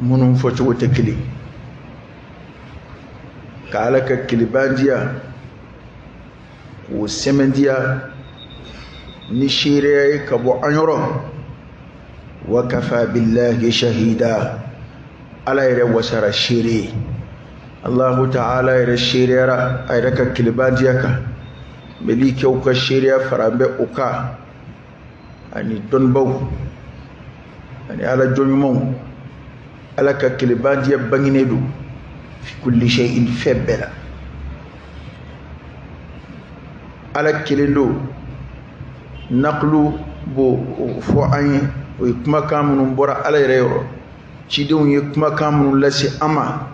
minnu fɔcogo tɛ kelen ka ala ka kelenbantiya k'o sɛmɛntiya ni seereya ye ka bɔ an yɔrɔ wa kafa billahi shahida ala yɛrɛ wasara seere ye allahu ta'ala yɛrɛ seereyara a yɛrɛ ka kelenbantiya kan mɛlɛkɛw ka seereya faralen bɛ o kan ani dɔnnibaw ani ala jɔnɲumanw ala ka kelenbantiya banginen don fi kulli shay'in fɛn bɛɛ la ala kelen don naqlu b'o fɔ an ye o ye kumakan minnu bɔra ala yɛrɛ yɔrɔ cidenw ye kumakan minnu lase an ma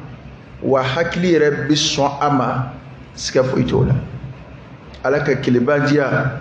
wa hakili yɛrɛ bɛ sɔn a ma siga foyi t'o la ala ka kelenbantiya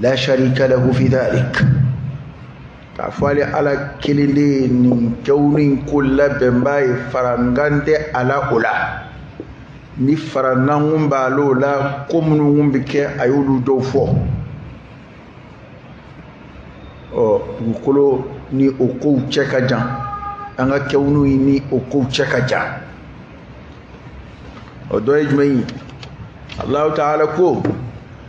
la sharika lahu fi dhalik k'a fɔ ale ala kelen de ye nin kɛwni ko labɛnbaa ye farankan tɛ a la o la ni farankan kun b'a l'o la ko minnu kun bɛ kɛ a y'olu dɔw fɔ ɔ dugukolo ni o kow cɛ ka jan an ka kɛwni ni o kow cɛ ka jan o dɔ ye jumɛn ye alahu taala ko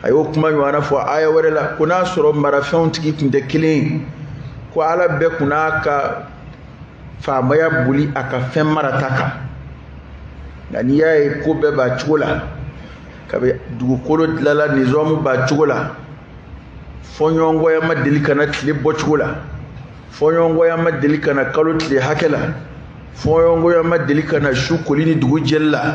a y'o kuma ɲɔgɔnna fɔ aya wɛrɛ la ko n'a sɔrɔ marafɛnw tigi kun tɛ kelen ko ala bɛɛ kun n'a ka faamaya boli a ka fɛn marata kan nka n'i y'a ye ko bɛɛ b'a cogo la kabi dugukolo dilala nizamu b'a cogo la fɔɲɔgɔnkɔya ma deli ka na tile bɔcogo la fɔɲɔgɔnkɔya ma deli ka na kalo tile hakɛ la fɔɲɔgɔnkɔya ma deli ka na su koli ni dugu jɛli la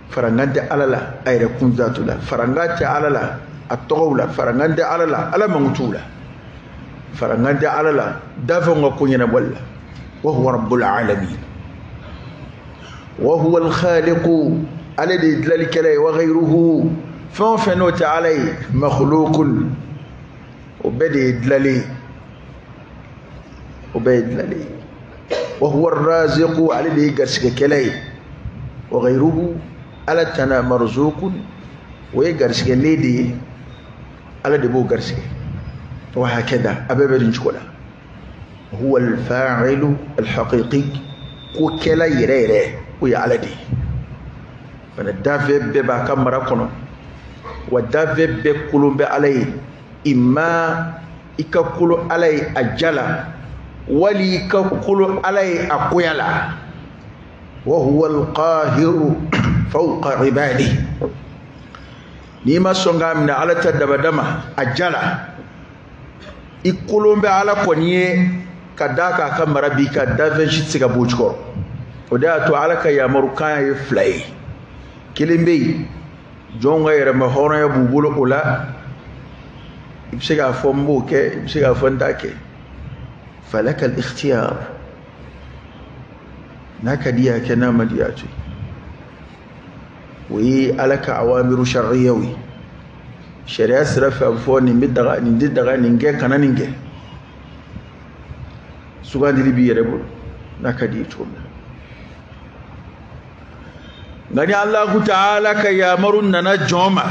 farankan tɛ ala la a yɛrɛkun dhatu la farankan tɛ ala la a tɔgɔw la farankan tɛ ala la ala mankutuw la farankan tɛ ala la danfɛnw ka ko ɲɛnabɔli la wa huwa rabbul alamin wa huwa alkhaliqu ale de ye dilalikɛla ye wa ghayruhu fɛn o fɛn n'o tɛ ala ye makhluqun o bɛɛ de ye dilalen ye o bɛɛ ye dilalen ye wa huwa ar-raziqu ale de ye garisigɛkɛla ye wa ghayruhu ala tana marzuqun o ye garisigɛlen de ye ala de b'o garisigɛ wa hakadha a bɛɛ bɛ nin cogo la huwa al-fa'ilu al-haqiqi ko kɛla yɛrɛ yɛrɛ o ye ala de ye bana danfɛn bɛɛ b'a ka mara kɔnɔ wa danfɛn bɛɛ kololen bɛ ala ye imma i ka kolo ala ye a ja la wali i ka kolo ala ye a goya la wa huwa alqahiru fawqa ibadi n'i ma sɔn k'a minɛ ala ta dabada ma a ja la i kolon bɛ ala kɔni ye ka d'a kan a ka mara b'i kan danfɛn si tɛ se ka b'o jukɔrɔ o de y'a to ala ka yamarukan ye fila ye kelen bɛ yen jɔnw ka yɛrɛma hɔrɔnya b'u bolo o la i bɛ se k'a fɔ n b'o kɛ i bɛ se k'a fɔ n t'a kɛ falaka alikhtiyar n'a ka di y'a kɛ n'a man di y'a to o ye ala ka awamiru sariyaw ye sariya sira fɛ a bɛ fɔ nin bɛ daga nin tɛ daga nin kɛ kana nin kɛ sugandili b'i yɛrɛ bolo n'a ka di ye cogo min na nka ni alahu taala ka yamaru nana jɔn ma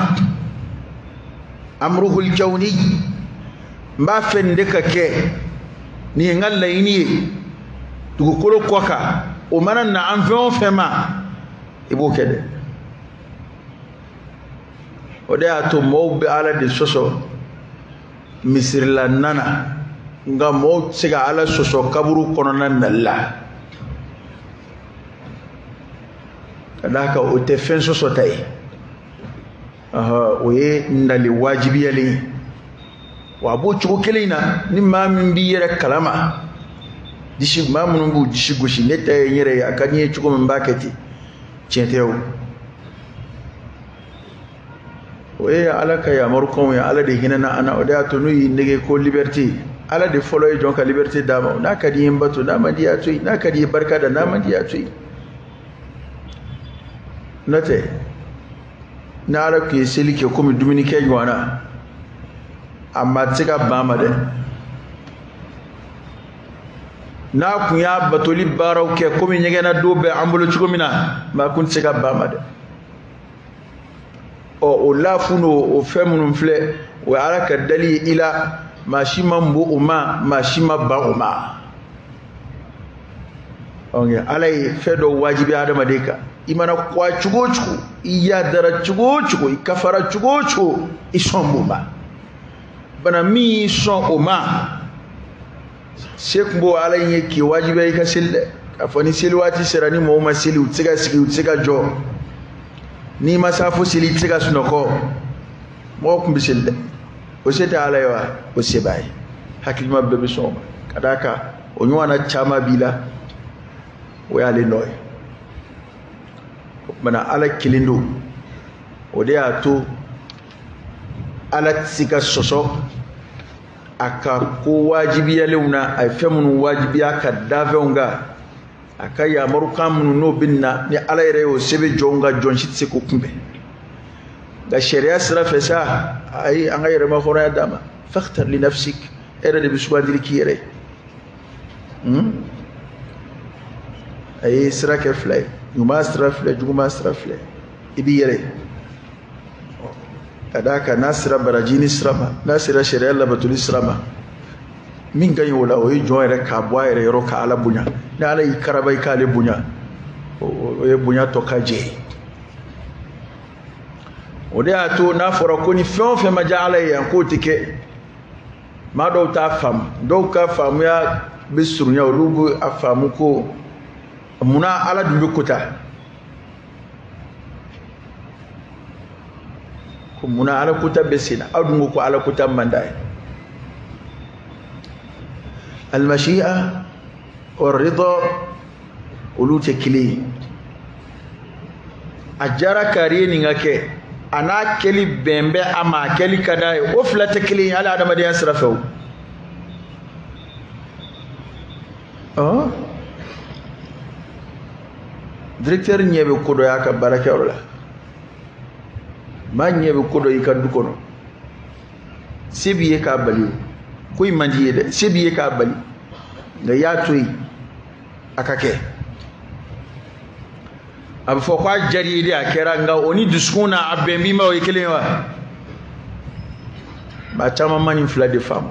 amuruhul kawni n b'a fɛ nin de ka kɛ nin ye n ka laɲini ye dugukolo kɔ kan o mana na an fɛn o fɛn ma i b'o kɛ dɛ o de y'a to mɔɔw bɛ ala de sɔsɔ misirila na na nka mɔɔw tɛ se ka ala sɔsɔ kaburu kɔnɔna nali la ka d'a kan o tɛ fɛn sɔsɔta ye o ye nali wajibiyalen ye wa a b'o cogo kelen in na ni maa min b'i yɛrɛ kalama disi maa minnu b'u disi gosi ne ta ye n yɛrɛ ye a ka di n ye cogo min n b'a kɛ ten tiɲɛ tɛ o o ye ala ka yamarukanw ye ala de hinɛna an na o de y'a to n'u y'i nɛgɛn ko liberté ala de fɔlɔ ye jɔn ka liberté d'a ma n'a ka di ye n bato n'a man di y'a to yen n'a ka di ye barika da n'a man di y'a to yen n'o tɛ ni ala tun ye seli kɛ komi dumunikɛ ɲɔgɔn na a maa tɛ se ka ban ma dɛ n'a kun y'a batoli baaraw kɛ komi ɲɛgɛnna don bɛ an bolo cogo min na maa kun tɛ se ka ban ma dɛ ɔ o laafu n'o o fɛn minnu filɛ o ye ala ka dali ye i la maa si ma ban o ma maa si ma ban o ma ɔ ala ye fɛn dɔ wajibi adamaden kan i mana kɔgɔ cogo o cogo i yadara cogo o cogo i kafara cogo o cogo i sɔn b'o ma bana min y'i sɔn o ma se kun b'o ala in ye k'i wajibiya i ka seli dɛ k'a fɔ ni seli waati sera ni mɔgɔw ma seli u tɛ se ka sigi u tɛ se ka jɔ n'i ma safo seli i tɛ se ka sunɔgɔ mɔgɔ kun bɛ seli dɛ o se tɛ ala ye wa o se b'a ye hakilima bɛɛ bɛ sɔn o ma ka d'a kan o ɲɔgɔn na caman b'i la o y'ale nɔ ye o tuma na ala kelen don o de y'a to ala tɛ se ka sɔsɔ a ka ko wajibiyalenw na a ye fɛn minnu wajibiya ka dafɛnw kan a ka yamarukan minnu n'o binna ni ala yɛrɛ y'o sɛbɛn jɔnw kan jɔn si tɛ se k'o kunbɛn nka sariya sira fɛ sa a ye an ka yɛrɛmahɔrɔnya d'an ma fakhtar li nafsik e yɛrɛ de bɛ sugandili k'i yɛrɛ ye hmm? a ye sira kɛ fila ye ɲuman sira filɛ juguman sira filɛ i b'i yɛrɛ ye ka d'a kan n'a sera barajiɲini sira ma n'a sera sariya labatoli sira ma min ka ɲi o la o ye jɔn yɛrɛ k'a bɔ a yɛrɛ yɔrɔ ka ala bonya ni ala y'i karaba i k'ale bonya o ye bonya tɔ ka jɛ ye o de y'a to n'a fɔra ko ni fɛn o fɛn ma diya ala ye yan k'o tɛ kɛ maa dɔw t'a faamu dɔw ka faamuya bɛ surunya olu bɛ a faamu ko munna ala dun bɛ kuta ko munna ala kuta bɛ sen na aw dun ko ko ala kuta man d'a ye almashi'a warrida olu tɛ kelen ye a diyara kari ye nin ka kɛ an'a kɛli bɛn bɛ a ma a kɛli ka d'a ye o fila tɛ kelen ye hali adamadenya sira fɛ o ɔ directeur ɲɛ bɛ ko dɔ y'a ka baarakɛyɔrɔ la maa ɲɛ bɛ ko dɔ y'i ka du kɔnɔ se b'i ye k'a bali o ko in man d'i ye dɛ se b'i ye k'a bali nka i y'a to yen a ka kɛ a bɛ fɔ ko a diyara i ye de a kɛra nka o ni dusukun na a bɛn b'i ma o ye kelen ye wa maa caman ma nin fila de faamu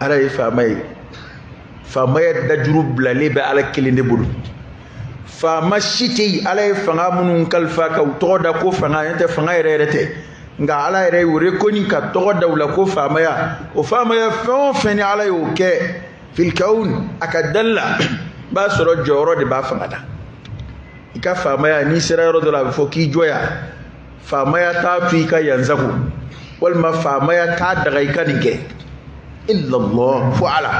ala ye faama ye faamaya dajuru bilalen bɛ ala kelen de bolo faama si tɛ yen ala ye fanga minnu kalifa ka u tɔgɔ da ko fanga n'o tɛ fanga yɛrɛ yɛrɛ tɛ nka ala yɛrɛ o de kɔni ka tɔgɔ da u la ko faamaya o faamaya fɛn o fɛn ni ala y'o kɛ fil kawn a ka dali la i b'a sɔrɔ jɔyɔrɔ de b'a fanga la i ka faamaya n'i sera yɔrɔ dɔ la a bɛ fɔ k'i jɔ yan faamaya t'a to i ka yan sagon walima faamaya t'a daga i ka nin kɛ illallah fo ala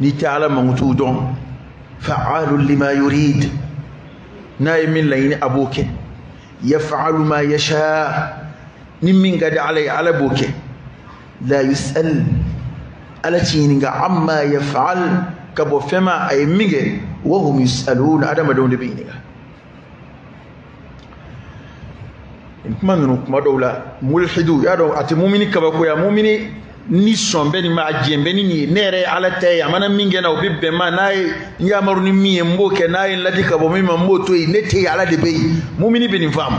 n'i tɛ ala mankutuw dɔn fa'alu lima yurid n'a ye min laɲini a b'o kɛ yaf'alu ma yasha ni min ka di ala ye ala b'o kɛ la yus'al ala tɛ ɲininka amma yaf'al ka bɔ fɛn ma a ye min kɛ wa hum yus'alun adamadenw de bɛ ɲininka nin kuma ninnu kuma dɔw la mulhiduya don a tɛ mumini kabakoya mumini ni sɔn bɛ nin ma a jɛn bɛ ni nin ye ne yɛrɛ ye ala ta ye a mana min kɛ n na o bɛ bɛn n ma n'a ye n yamaru ni min ye n b'o kɛ n'a ye n ladi ka bɔ min ma n b'o to yen ne tɛ yen ala de bɛ yen mumini bɛ nin faamu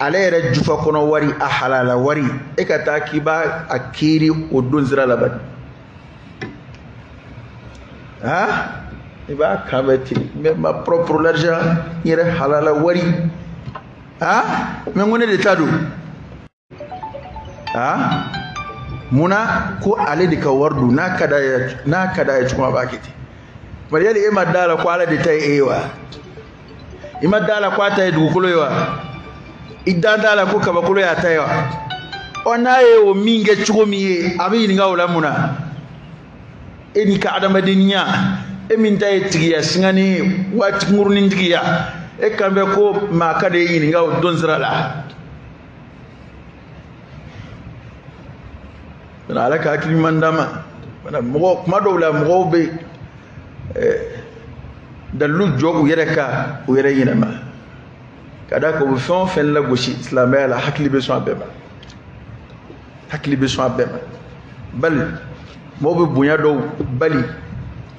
ale yɛrɛ jufa kɔnɔ wari a halala wari e ka taa k'i b'a a kiiri o don sira la bani han i b'a kan bɛ ten mais ma propre l'argent n yɛrɛ halala wari han mais n ko ne de ta don han munna ko ale de ka wari don n'a ka d'a ye n'a ka d'a ye cogo min a b'a kɛ ten bari yali e ma d'a la ko ala de ta ye e ye wa i ma da la ko a ta ye dugukolo ye wa i da t'a la ko kabakolo y'a ta ye wa ɔ n'a ye o min kɛ cogo min ye a bɛ ɲininka o la mun na e n'i ka adamadenya e min ta ye tigiya singani ye waati kunkurunin tigiya e kan bɛ ko maa ka de ye ɲininka o don sira la ala ka hakili ɲuman d'an ma mɔgɔ kuma dɔw la mɔgɔw bɛ dalilu jɔ u yɛrɛ kan u yɛrɛ ɲinɛma ka d'a kan u bɛ fɛn o fɛn lagosi silamɛya la hakili bɛ sɔn a bɛɛ ma hakili bɛ sɔn a bɛɛ ma bal mɔgɔw bɛ bonya dɔw bali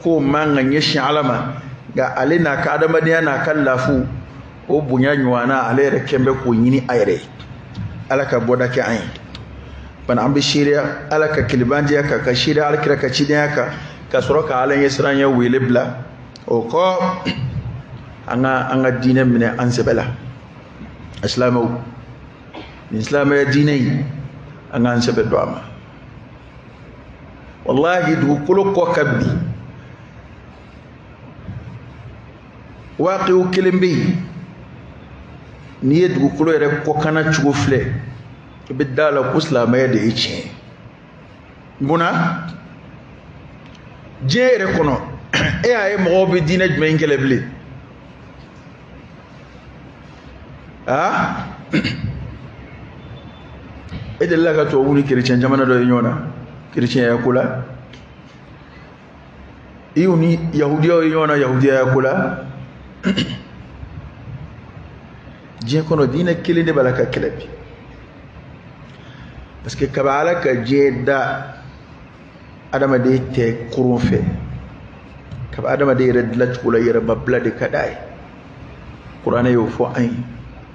k'o man kan ɲɛsin ala ma nka ale n'a ka adamadenya n'a ka lafu o bonya ɲɔgɔnna ale yɛrɛ kɛn bɛ k'o ɲini a yɛrɛ ye ala ka bɔda kɛ an ye bana an bɛ seereya ala ka kelebanjɛya kan ka seereya alakira ka cidenya kan ka sɔrɔ ka ala ɲɛsiranɲɛ wele bila o kɔ an ka an ka diinɛ minɛ an sɛbɛ la asilamɛw nin silamɛya diinɛ in an k'an sɛbɛ don a ma walahi dugukolo kɔ kan bi waaqiw kelen bɛ yen n'i ye dugukolo yɛrɛ kɔkanna cogo filɛ i bɛ da la ko silamɛya de ye tiɲɛ ye munna diɲɛ yɛrɛ kɔnɔ e y'a ye mɔgɔw bɛ diinɛ jumɛn in kɛlɛ bilen aa e delila ka tubabu ni kerecɛn jamana dɔ ye ɲɔgɔn na kerecɛnya ko la i y'u ni yahudiyaw ye ɲɔgɔn na yahudiyaya ko la diɲɛ kɔnɔ diinɛ kelen de b'a la ka kɛlɛ bi parce que kabi ala ka diɲɛ da adamaden tɛ koron fɛ kabi adamaden yɛrɛ dilacogo la yɛrɛmabila de ka d'a ye kuranɛ y'o fɔ an ye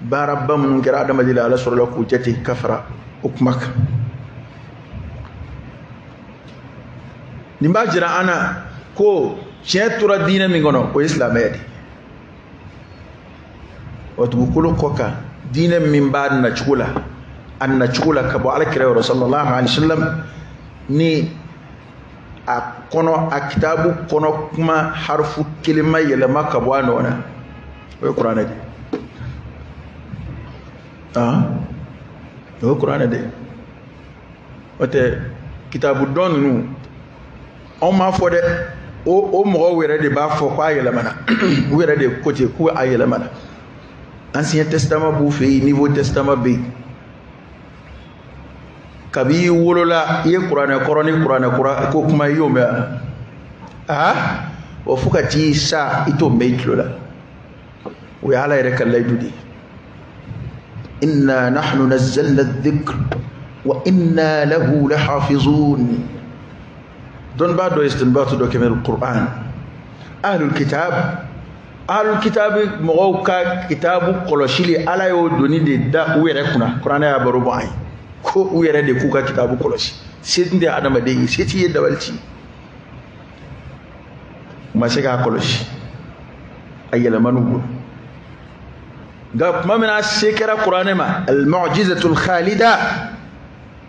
baaraba minnu kɛra adamaden la ala sɔrɔla k'u jate ka fara o kuma kan nin b'a jira an na ko tiɲɛ tora diinɛ min kɔnɔ o ye silamɛya de wa dugukolo kɔ kan diinɛ min b'a nacogo la a nacogo la ka bɔ alakira yɔrɔ sallallahu alaihi wasallam ni a kɔnɔ a kitabu kɔnɔ kuma harifu kelen ma yɛlɛma ka bɔ a nɔ na o ye kuranɛ de ah o ye kuranɛ de o tɛ kitabu tɔ ninnu anw m'a fɔ dɛ o o mɔgɔw yɛrɛ de b'a fɔ k'a yɛlɛmana u yɛrɛ de ko ten ko a yɛlɛmana ancien testament b'u fɛ yen nouveau testament bɛ yen kabi i wolola i ye kuranɛ kɔrɔ ni kuranɛ kura ko kuma i y'o mɛn a aa wa fo ka t'i sa i t'o mɛn i tulo la o ye ala yɛrɛ ka layidu de ye inna nahnu nazzalna dhikr wa inna lahu lahafizun dɔnnibaa dɔ ye istinbatu dɔ kɛ minal kuran ahlul kitab alu kitabu mɔgɔw ka kitabu kɔlɔsili ala y'o doni de da u yɛrɛ kunna kuranɛ y'a baro bɔ an ye ko u yɛrɛ de k'u ka kitabu kɔlɔsi se tun tɛ adamaden ye se t'i ye dabali t'i u ma se k'a kɔlɔsi a yɛlɛmana u bolo nka kuma min na se kɛra kuranɛ ma almujizatul khalida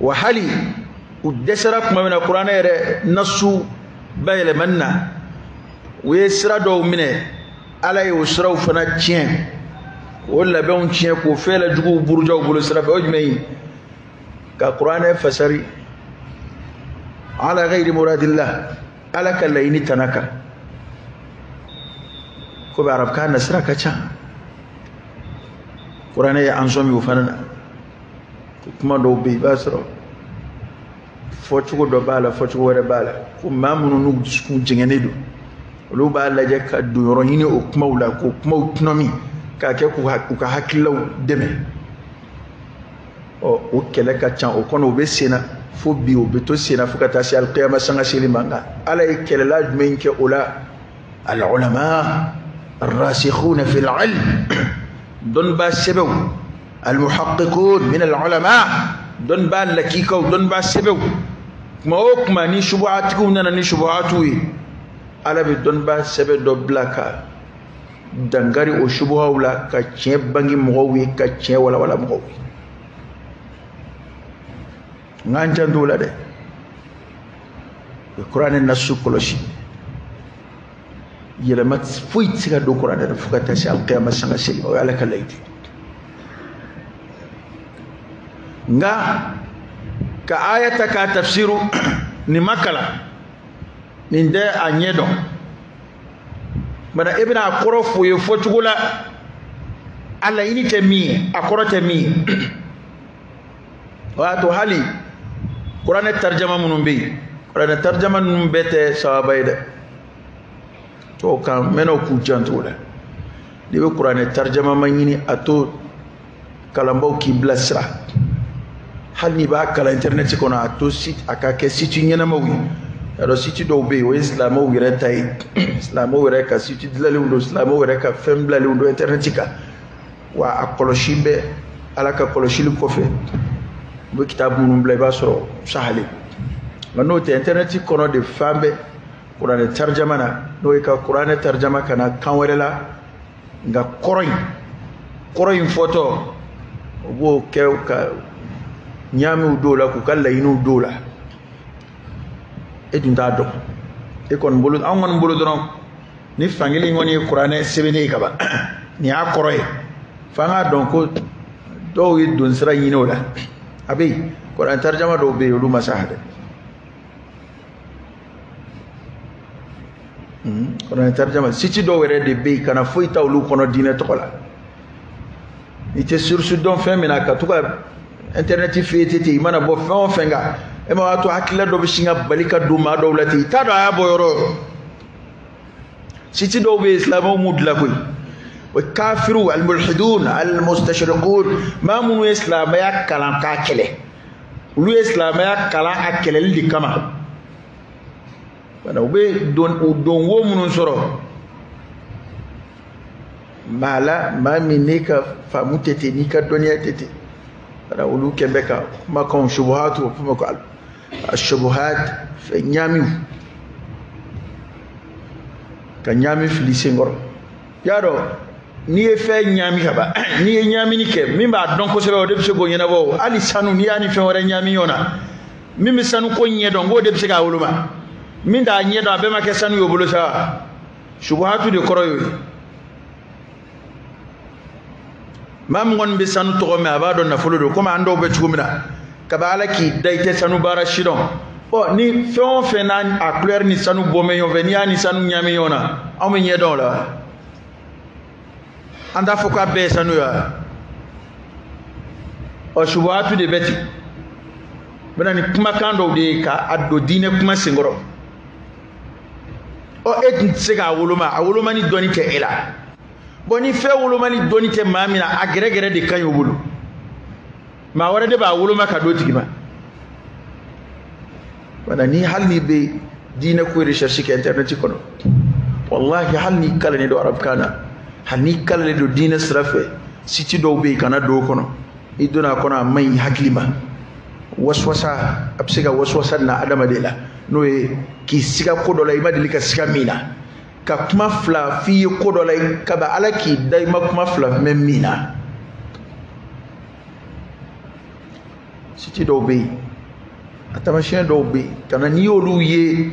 wa hali u dɛsɛra kuma min na kuranɛ yɛrɛ nasu bayɛlɛmani na u ye sira dɔw minɛ ala ye o siraw fana tiɲɛ k'o labɛnw tiɲɛ k'o fɛɛlɛ juguw buruja u bolo sira fɛ o jumɛn ye ka kuranɛ fasari ala gayiri muradillah ala ka laɲini tana kan komi arabukan na sira ka ca kuranɛ ye an sɔmi o fana na kuma dɔw bɛ yen i b'a sɔrɔ fɔcogo dɔ b'a la fɔcogo wɛrɛ b'a la ko maa minnu n'u dusukun jɛngɛnnen don olu b'a lajɛ ka donyɔrɔ ɲini o kumaw la k'o kumaw tɔnɔmi k'a kɛ k'u ka hakililaw dɛmɛ ɔ o kɛlɛ ka ca o kɔnɔ o bɛ sen na fo bi o bɛ to sen na fo ka taa se alikiyama sanga seli ma nka ala ye kɛlɛla jumɛn kɛ o la alulama rasikhuna fil ilm dɔnnibaa sɛbɛw almuhaqiqun min alulama dɔnnibaa lakikaw dɔnnibaa sɛbɛw kuma o kuma ni subuhatigiw nana ni subuhatiw ye ala bɛ dɔnnibaa sɛbɛ dɔ bila ka dankari o subuhaw la ka tiɲɛ bange mɔgɔw ye ka tiɲɛ walawala mɔgɔw ye nk'an janto o la dɛ kuranɛ nasu kɔlɔsi yɛlɛma foyi tɛ se ka don kuranɛ na fo ka taa se alikiyama sanga seli o ye ala ka layidu nka ka aya ta k'a tafsiru n'i ma kalan n'i tɛ a ɲɛ dɔn bana e bɛna a kɔrɔ f'u ye fɔcogo la a laɲini tɛ min ye a kɔrɔ tɛ min ye o y'a to hali kuranɛ tarijama minnu bɛ yen kuranɛ tarijama ninnu bɛɛ tɛ sawaba ye dɛ tɔw kan mɛnnaw k'u janto o la n'i bɛ kuranɛ tarijama maɲini a to kalanbaaw k'i bilasira hali n'i b'a kalan intɛrinɛti kɔnɔ a to a ka kɛ siti ɲɛnamaw ye y'a dɔn siti dɔw bɛ yen o ye silamɛw yɛrɛ ta ye silamɛw yɛrɛ ka siti dilanlenw don silamɛw yɛrɛ ka fɛn bilalenw don intɛrinɛti kan wa a kɔlɔsi bɛ ala ka kɔlɔsili kɔfɛ u bɛ kitabu minnu bila i b'a sɔrɔ sahali nka n'o tɛ intɛrɛnɛti kɔnɔ de fan bɛɛ kuranɛ tarijama na n'o ye ka kuranɛ tarijama ka na kan wɛrɛ la nka kɔrɔ in kɔrɔ in fɔtɔ u b'o kɛ ka ɲaamiw don o la k'u ka laɲiniw don o la e dun t'a dɔn e kɔni bolo an kɔni bolo dɔrɔn ni fankelen kɔni ye kuranɛ sɛbɛnnen ye ka ban nin y'a kɔrɔ ye f'an k'a dɔn ko dɔw ye donsira ɲini o la a bɛ yen kuranɛ tarijama dɔw bɛ yen olu ma sa dɛ hmm, kuranɛ tarijama siti dɔw yɛrɛ de bɛ yen kana foyi ta olu kɔnɔ diinɛ tɔgɔ la i tɛ surusi dɔn fɛn min na ka to ka intɛrɛnɛti fɛ yen ten i mana bɔ fɛn o fɛn kan e ma b'a to hakilila dɔ bɛ sin ka bali ka don maa dɔw la ten i t'a dɔn a y'a bɔ yɔrɔ o yɔrɔ siti dɔw bɛ yen silamɛw m'u dilan koyi o ye kafiriw alimulhidun alimustashirikun maa minnu ye silamɛya kalan k'a kɛlɛ olu ye silamɛya kalan a kɛlɛli de kama wala u bɛ donwo minnu sɔrɔ maa la maa min n'i ka faamu tɛ ten n'i ka dɔnniya tɛ ten wala olu kɛn bɛ ka kumakanw subuhatu o f'o ma ko ashubuhati fɛn ɲaamiw ka ɲaami fili senkɔrɔ y'a dɔn n'i ye fɛn ɲaami ka ban n'i ye ɲaamini kɛ min b'a dɔn kosɛbɛ o de bɛ se k'o ɲɛnabɔ hali sanu n'i y'a ni fɛn wɛrɛ ɲaami ɲɔgɔn na min bɛ sanu ko ɲɛ dɔn o de bɛ se k'a woloma min t'a ɲɛ dɔn a bɛɛ ma kɛ sanu y'o bolo sa subuhatu de kɔrɔ y'o ye maa min kɔni bɛ sanu tɔgɔ mɛn a b'a dɔn nafolo don komi an dɔw bɛ cogo min na kabi ala k'i dan i tɛ sanu baara si dɔn ɔ ni fɛn o fɛn n'a a kulɛri ni sanu bɔn bɛ ɲɔgɔn fɛ n'i y'a ni sanu ɲaami ɲɔgɔn na anw bɛ ɲɛ dɔn o la an t'a fɔ k'a bɛɛ ye sanu ye wa ɔ subuhatu de bɛ ten u bɛ na ni kumakan dɔw de ye k'a don diinɛ kuma senkɔrɔ ɔ e tun tɛ se k'a woloma a wolomani dɔnni tɛ e la bɔn ni fɛn wolomani dɔnni tɛ maa min na a gɛrɛgɛrɛ de ka ɲi o bolo maa wɛrɛ de b'a woloma ka d'o tigi ma wala ni hali n'i bɛ diinɛ ko recherche kɛ internet kɔnɔ wallahi hali n'i kalannen don arabukan na hali n'i kalannen don diinɛ sira fɛ site dɔw bɛ yen kana don o kɔnɔ i donna a kɔnɔ a man ɲi hakili ma waswasa a bɛ se ka waswasa na adamaden la n'o ye k'i siga ko dɔ la i ma deli ka siga min na ka kuma fila f'i ye ko dɔ la kabi ala k'i da i ma kuma fila mɛn min na site dɔw bɛ yen a taamasiyɛn dɔw bɛ yen kana n'i y'olu ye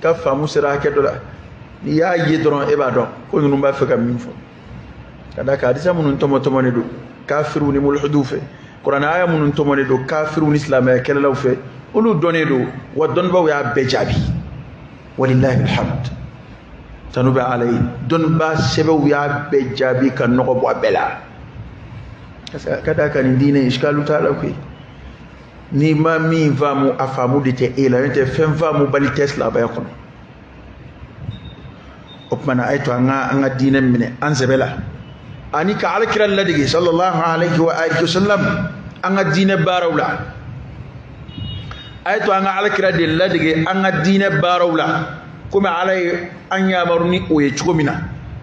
ka faamu sera hakɛ dɔ la n'i y'a ye dɔrɔn e b'a dɔn ko ninnu b'a fɛ ka min fɔ ka d'a kan hadisa minnu tɔmɔtɔmɔnen don kafiriw ni mulhidiw fɛ kuranɛ aya minnu tɔmɔnen don kafiriw ni silamɛya kɛlɛlaw fɛ olu dɔnnen don wa dɔnnibaaw y'a bɛɛ jaabi walillahi alhamd tanu bɛ ala ye dɔnnibaa sɛbɛw y'a bɛɛ jaabi ka nɔgɔ bɔ a bɛɛ la ka d'a kan nin diinɛ iskalu t'a la koyi n'i ma min faamu a faamu de tɛ e la n'o tɛ fɛn faamubali tɛ silamɛya kɔnɔ o kuma na a ye to an ka an ka diinɛ minɛ an sɛbɛ la ani ka alakira ladege sallallahu alaihi wa alihi wasallam an ka diinɛ baaraw la a ye to an ka alakira de ladege an ka diinɛ baaraw la komi ala ye an yamaru ni o ye cogo min na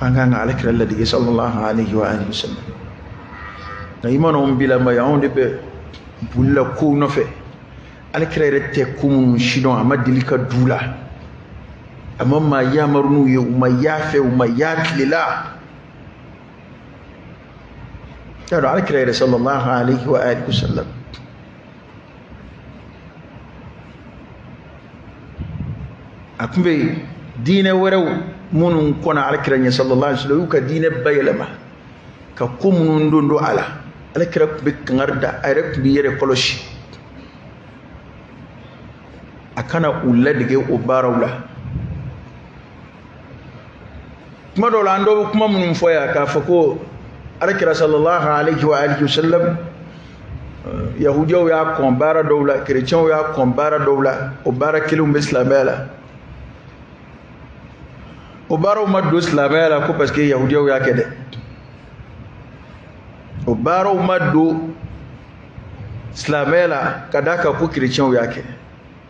an kan ka alakira ladege sallallahu alaihi wa alihi wasallam nka i mana anw bila mɛ anw de bɛ boli la kow nɔfɛ alakira yɛrɛ tɛ ko minnu si dɔn a ma deli ka don u la a ma maa yamaru n'u ye u ma y'a fɛ u ma y'a tile la y'a dɔn alakira yɛrɛ sallallahu alaihi wa alihi wasallam a tun bɛ diinɛ wɛrɛw minnu kɔnna alakira ɲɛ sallallahu alaihi wasallam y'u ka diinɛ bayɛlɛma ka ko minnu don don a la alakira tun bɛ kangari da a yɛrɛ tun b'i yɛrɛ kɔlɔsi a kana u ladege o baaraw la kuma dɔw la an dɔw bɛ kuma minnu fɔ yan k'a fɔ ko alakira sallallahu alaihi wa alihi wasallam yahudiyaw y'a kɔn baara dɔw la kerecɛnw y'a kɔn baara dɔw la o baara kelenw bɛ silamɛya la o baaraw ma don silamɛya la ko parce que yahudiyaw y'a kɛ dɛ o baaraw ma don silamɛya la ka d'a kan ko kerecɛnw y'a kɛ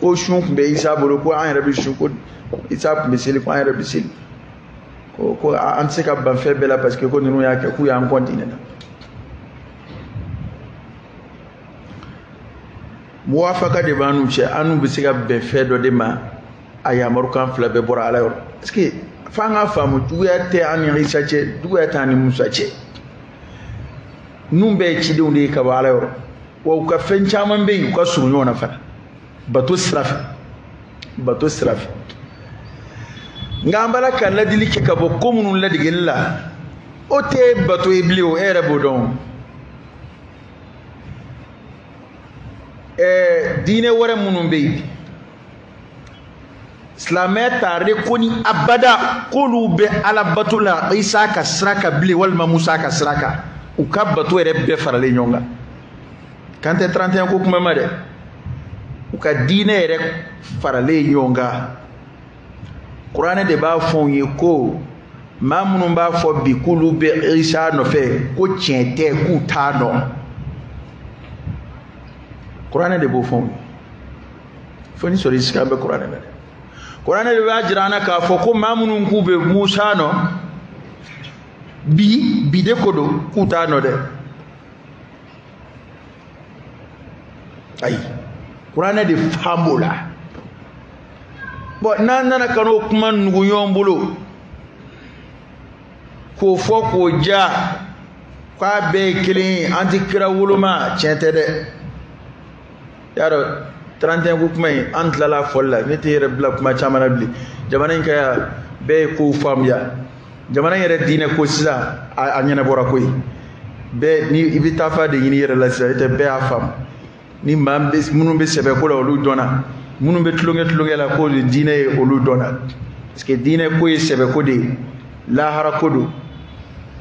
ko sun tun bɛ isa bolo ko an yɛrɛ bɛ sun ko isa tun bɛ seli ko an yɛrɛ bɛ seli ko ko an tɛ se ka ban fɛn bɛɛ la parce que ko ninnu y'a kɛ k'u y'an kɔn tiɲɛ na muwafaka de b'an n'u cɛ an n'u bɛ se ka bɛn fɛn dɔ de ma a yamarukan fila bɛɛ bɔra ala yɔrɔ parce que f'an k'a faamu juguya tɛ an ni isa cɛ juguya tɛ an ni musa cɛ ninnu bɛɛ ye cidenw de ye ka bɔ ala yɔrɔ wa u ka fɛn caman bɛ yen u ka surun ɲɔgɔn na fana bato sira fɛ bato sira fɛ nka an b'a la ka ladili kɛ ka bɔ ko minnu ladegeli la o tɛ bato ye bilen o e yɛrɛ b'o dɔn ɛɛ diinɛ wɛrɛ minnu bɛ yen silamɛya t'a reconnu abada k'olu bɛ ala bato la isa ka sira kan bilen walima musa ka sira kan u ka bato yɛrɛ bɛɛ faralen ɲɔgɔn kan n tɛ 31 ko kuma ma dɛ u ka diinɛ yɛrɛ faralen ɲɔgɔn kan kuranɛ de b'a fɔ an ye ko maa minnu b'a fɔ bi k'olu bɛ isa nɔfɛ ko tiɲɛ tɛ k'u t'a nɔ kuranɛ de b'o fɔ an ye fo ni sɔrɔ i sika bɛ kuranɛ na dɛ kuranɛ de b'a jira an na k'a fɔ ko maa minnu k'u bɛ musa nɔ bi bi de ko don k'u t'a nɔ dɛ ayi kuranɛ de fana b'o la bon n'an nana ka n'o kuma nugu ɲɔgɔn bolo k'o fɔ ko jaa k'a bɛɛ ye kelen ye an ti kira woloma tiɲɛ tɛ dɛ y'a dɔn 31 ko kuma in an tilala a fɔli la ne tɛ n yɛrɛ bila kuma caman na bilen jamana in ka yan bɛɛ ye kow faamuya jamana in yɛrɛ diinɛ ko sisan a ɲɛnabɔra koyi bɛɛ ni i bɛ taafa de ɲini i yɛrɛ la sisan i tɛ bɛɛ y'a faamu ni maa minnu bɛ sɛbɛ ko la olu dɔnna minnu bɛ tulonkɛ tulonkɛ la ko diinɛ ye olu dɔnna parce que diinɛ ko ye sɛbɛ ko de ye lahara ko don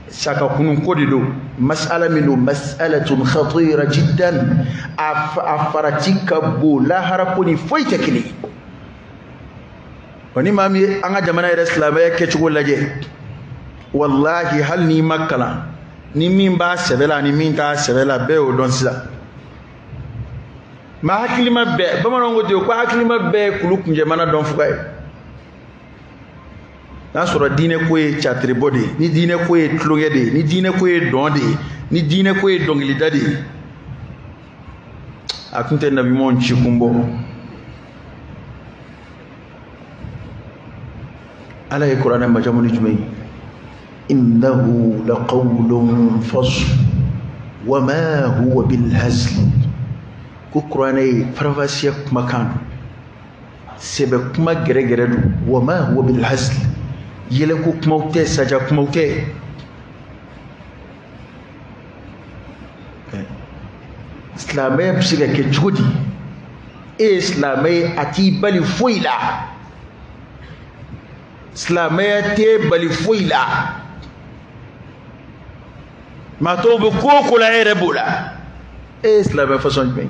sa ka kunun ko de don masala min don masalatun khatira jiddan a farati ka bon lahara ko ni foyi tɛ kelen ye wa ni maa min ye an ka jamana yɛrɛ silamɛya kɛcogo lajɛ walahi hali n'i ma kalan ni min b'a sɛbɛ la ani min t'a sɛbɛ la bɛɛ y'o dɔn sisan maa hakilima bɛɛ bamananw ko ten ko hakilima bɛɛ ye kulu kunjɛmana dɔn fuga ye n'a sɔrɔla diinɛ ko ye catiribɔ de ye ni diinɛ ko ye tulonkɛ de ye ni diinɛ ko ye dɔn de ye ni diinɛ ko ye dɔnkilida de ye a kun tɛ nabiɲumanw ci kun bɔ ala ye kuranɛ majamu ni jumɛn ye innahu laqawlun fasl wa ma huwa bilhazli ko kuranɛ ye faranfasiya kumakan don sɛbɛ kuma gɛrɛgɛrɛ don wa ma huwa bil hazl yɛlɛko kumaw tɛ saja kumaw tɛ silamɛya bɛ se ka kɛ cogo di e ye silamɛ ye a t'i bali foyi la silamɛya t'i bali foyi la maa tɔw bɛ ko o ko la e yɛrɛ b'o la e ye silamɛ fasɔn jumɛn ye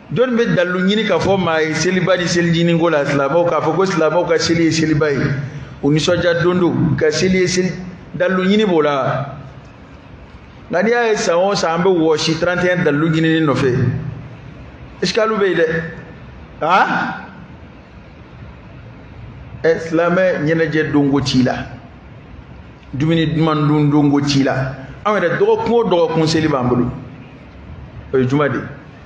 jɔnni bɛ dalilu ɲini k'a fɔ maa ye seliba ni selincinin ko la silamɛw k'a fɔ ko silamɛw ka seli ye seliba ye u nisɔndiya don don ka seli ye seli dalilu ɲini b'o la nka n'i y'a ye san o san an bɛ wɔsi 31 dalilu ɲinini nɔfɛ esikalu bɛ yen dɛ aa ɛ silamɛ ɲɛnajɛ don ko t'i la dumuni duman dun don ko t'i la anw yɛrɛ dɔgɔkun o dɔgɔkun seli b'an bolo o ye juma de ye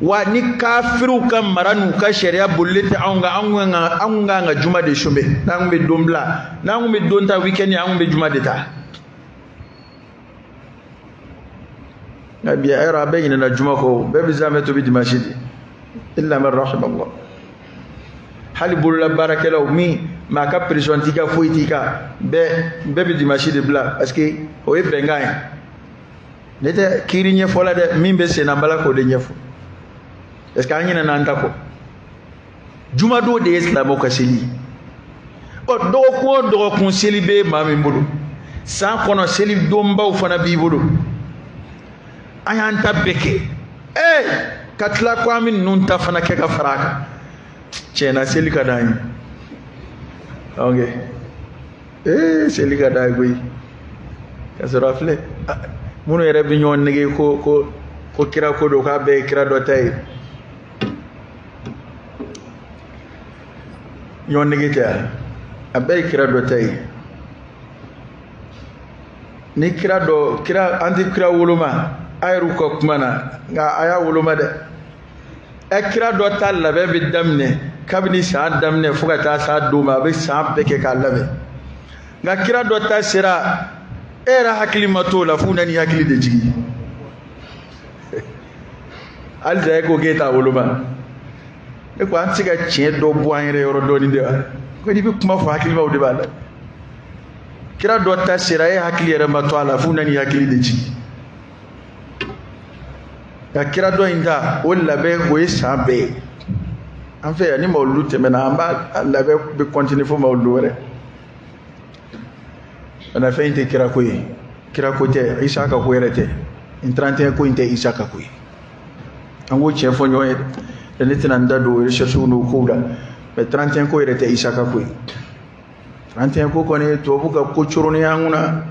wa ni kafiriw ka mara n'u ka sariya bolilen tɛ anw kan anw kan ka anw kan ka juma de chômer n'an kun bɛ don bila n'an kun bɛ don ta weekend an kun bɛ juma de ta nka bi a yɔrɔ a bɛɛ ɲinɛna juma kɔ bɛɛ bɛ zamɛ tobi dimansi de illa man rahimallah hali bololabaarakɛlaw min maa ka pression t'i kan foyi t'i kan bɛɛ bɛɛ bɛ dimansi de bila parce que o ye bɛnkan ye ne tɛ kiiri ɲɛfɔ la dɛ min bɛ senna n b'a la k'o de ɲɛfɔ est ce que an ɲinɛna an ta kɔ jumadon de ye silamɛw ka seli ye ɔ dɔgɔkun o dɔgɔkun seli bɛ maa min bolo san kɔnɔ seli donbaw fana b'i bolo an y'an ta bɛɛ kɛ ee ka tila ko an bɛ ninnu ta fana kɛ ka fara a kan tiɲɛ na seli ka d'an ye ok ee seli ka d'an ye koyi ka sɔrɔ a filɛ minnu yɛrɛ bɛ ɲɔgɔn nɛgɛn ko ko ko kira ko don k'a bɛɛ ye kira dɔ ta ye ɲɔgɔn nɛgɛn tɛ yan a bɛɛ ye kira dɔ ta ye ni kira dɔ kira an tɛ kira woloma a yɛrɛw ka kuma na nka a y'a woloma dɛ ɛ kira dɔ ta labɛn bɛ daminɛ kabini san daminɛ fo ka taa s'a don ma a bɛ san bɛɛ kɛ k'a labɛn nka kira dɔ ta sera e yɛrɛ hakili ma t'o la f'u nana i hakili de jigin halisa e ko k'e t'a woloma e ko an tɛ se ka tiɲɛ dɔ bɔ an yɛrɛ yɔrɔ dɔɔni de wa ko n'i bɛ kuma fɔ hakilimaw de b'a la kira dɔ ta sera e hakili yɛrɛ ma to a la f'u nana i hakili de jigin ka kira dɔ in ta o labɛn o ye san bɛɛ ye an fɛ yan ni mawuludu tɛmɛna an b'a labɛn bɛ continuer fo mawuludu wɛrɛ bɛ na fɛn in tɛ kira ko ye kira ko tɛ isa ka ko yɛrɛ tɛ nin tarantiɲɛ ko in tɛ isa ka ko ye an k'o tiɲɛ fɔ ɲɔgɔn ye dɛ ne tɛna n da don recherche n'o kow la mais tarantiɲɛ ko yɛrɛ tɛ isa ka ko ye tarantiɲɛ ko kɔni tubabu ka ko coronnen an kunna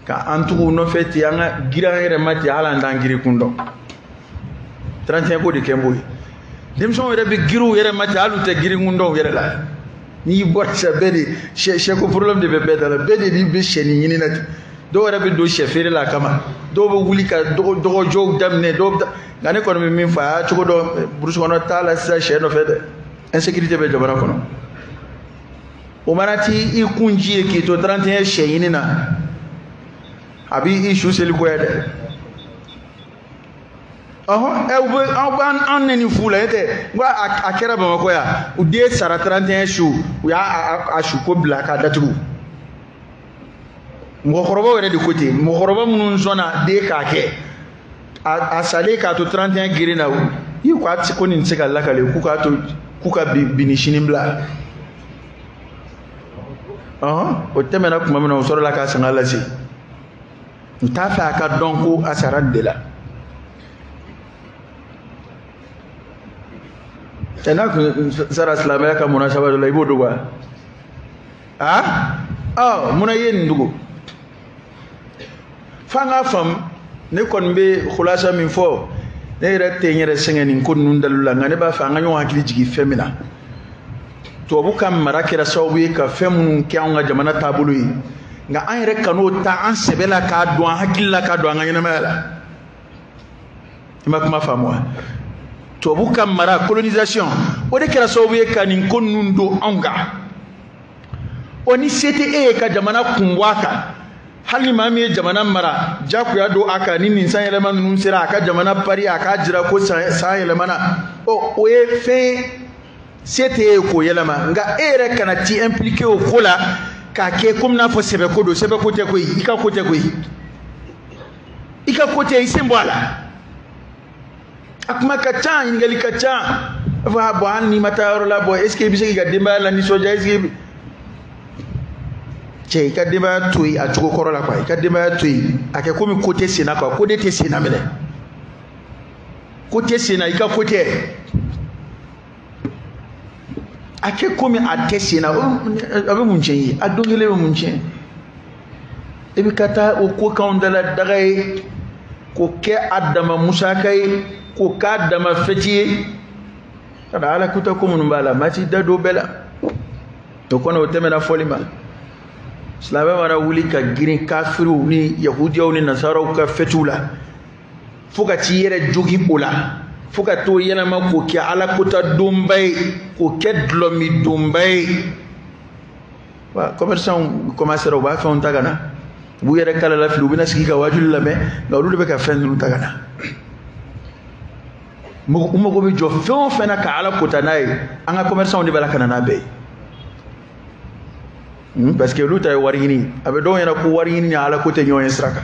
ka an tugu nɔfɛ ten an ka girin an yɛrɛ ma ten hali an t'an girin kun dɔn tarantiɲɛ ko de kɛlen b'o ye denmisɛnw yɛrɛ bɛ girin u yɛrɛ ma ten hali u tɛ girin kun dɔn u yɛrɛ la n'i y'i bɔ sisan bɛɛ de sɛ sɛ ko problème de bɛ bɛɛ da la bɛɛ de b'i bɛ sɛnin ɲini na ten dɔw yɛrɛ bɛ don sɛ feere la a kama dɔw bɛ wuli ka dɔgɔ dɔgɔjɔw daminɛ dɔw bɛ taa nka ne kɔni bɛ min fɔ a y'a cogo dɔn burusi kɔnɔ taa la sisan sɛ nɔfɛ dɛ insécurité bɛ jamana kɔnɔ. u mana t'i kun ci yen k'i to 31 sɛ ɲini na a b'i i su seli goya dɛ ɔhɔn ɛ u bɛ aw b'an an nɛni fu la e tɛ n ko a kɛra bamakɔ yan u den sara 31 su u y'a a su ko bila k'a datugu. mɔgɔkɔrɔbaw yɛrɛ de ko ten mɔgɔkɔrɔba minnu sɔnna den k'a kɛ a salen k'a to 31 girin na i ko a tɛ ko nin tɛ se ka lakale k'u k'a to k'u ka bi ni sini bila o tɛmɛna tuma min na u sɔrɔla k'a sanga lase u t'a fɛ a ka dɔn ko a sara nin de la cɛ n'a tun sara silamɛya ka munasaba dɔ la i b'o dogo wa a ɔ munna i ye nin dogo f'an k'a faamu ne kɔni bɛ kulasa min fɔ ne yɛrɛ tɛ n yɛrɛ sɛgɛn nin ko ninnu dalilu la nka ne b'a fɛ an ka ɲɔgɔn hakili jigin fɛn min na tubabu ka mara kɛra sababu ye ka fɛn minnu kɛ anw ka jamana taabolo ye nka an yɛrɛ kan'o ta an sɛbɛ la k'a don an hakili la k'a don an ka ɲɛnamaya la i ma kuma faamu wa tubabu ka mara colonisation o de kɛra sababu ye ka nin ko ninnu don anw kan o ni se tɛ e ye ka jamana kun bɔ a kan hali maa min ye jamana mara jagoya don a kan ni nin san yɛlɛma ninnu sera a ka jamana pari a k'a jira ko san yɛlɛmana ɔ o ye fɛn se tɛ e ye k'o yɛlɛma nka e yɛrɛ kana t'i impliqué o ko la k'a kɛ komi n'a fɔ sɛbɛko don sɛbɛko tɛ koyi i ka ko tɛ koyi i ka ko tɛ i sen bɔ a la a kuma ka ca ɲininkali ka ca a fɔ a bon hali n'i ma taa yɔrɔ la bon est ce que i bɛ se k'i ka denbaya la nisɔndiya est ce que cɛ i ka denbaya to yen a cogo kɔrɔ la quoi i ka denbaya to yen a kɛ komi ko tɛ sen na quoi ko de tɛ sen na minɛ ko tɛ sen na i ka ko tɛ. a kɛ komi a tɛ sen na a bɛ mun tiɲɛ ye a don kelen bɛ mun tiɲɛ i bɛ ka taa o k'o k'a dama daga ye k'o kɛ a dama musaka ye k'o k'a dama fɛti ye ani ala kuta ko minnu b'a la maa t'i da don bɛɛ la o kɔni o tɛmɛna fɔli ma silamɛ mana wuli ka girin kafiriw ni yahudiyaw ni nasaraw ka fɛtiw la fo ka t'i yɛrɛ jogin o la fo ka t'o yɛlɛma k'o kɛ ala kuta donba ye k'o kɛ dulɔmin donba ye wa commerçant commerçantw u b'a fɛnw ta ka na u b'u yɛrɛ kalala fili u bɛna sigi ka waajuli lamɛn nka olu de bɛ ka fɛn ninnu ta ka na u mago bɛ jɔ fɛn o fɛn na ka ala kuta n'a ye an ka commerçant de b'a la ka na n'a bɛɛ ye Hmm, parce que olu ta ye wari ɲini a bɛ dɔw ɲɛna ko wari ɲini ni ala ko tɛ ɲɔgɔn ye sira kan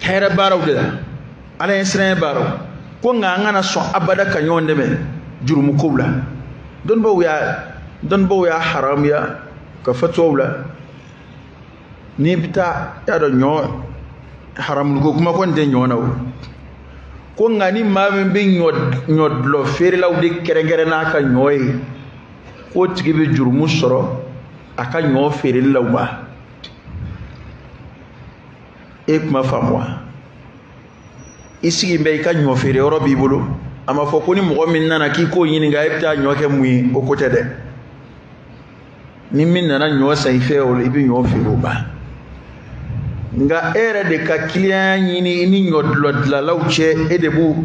hɛrɛ baaraw de la ala ɲɛsiranɲɛ baaraw ko nka an kana sɔn abada ka ɲɔgɔn dɛmɛ jurumukow la dɔnnibaw y'a haramuya ka fatuwaw la n'i bɛ taa y'a dɔn ɲɔ haramuliko kuma kɔni tɛ ɲɔ na o ko nka ni maa min bɛ ɲɔ dulɔ feerelaw de kɛrɛnkɛrɛn n'a ka ɲɔ ye k'o tigi bɛ jurumu sɔrɔ a ka ɲɔ feereli la wa e kuma faamu wa i sigi bɛ i ka ɲɔ feere yɔrɔ b'i bolo a ma fɔ ko ni mɔgɔ min nana k'i k'o ɲininka e bɛ taa ɲɔ kɛ mun ye o ko tɛ dɛ ni min nana ɲɔ san i fɛ o la i bɛ ɲɔ feere o ma nka e yɛrɛ de ka kiliyanya ɲini i ni ɲɔ dulɔ dilalaw cɛ e de b'u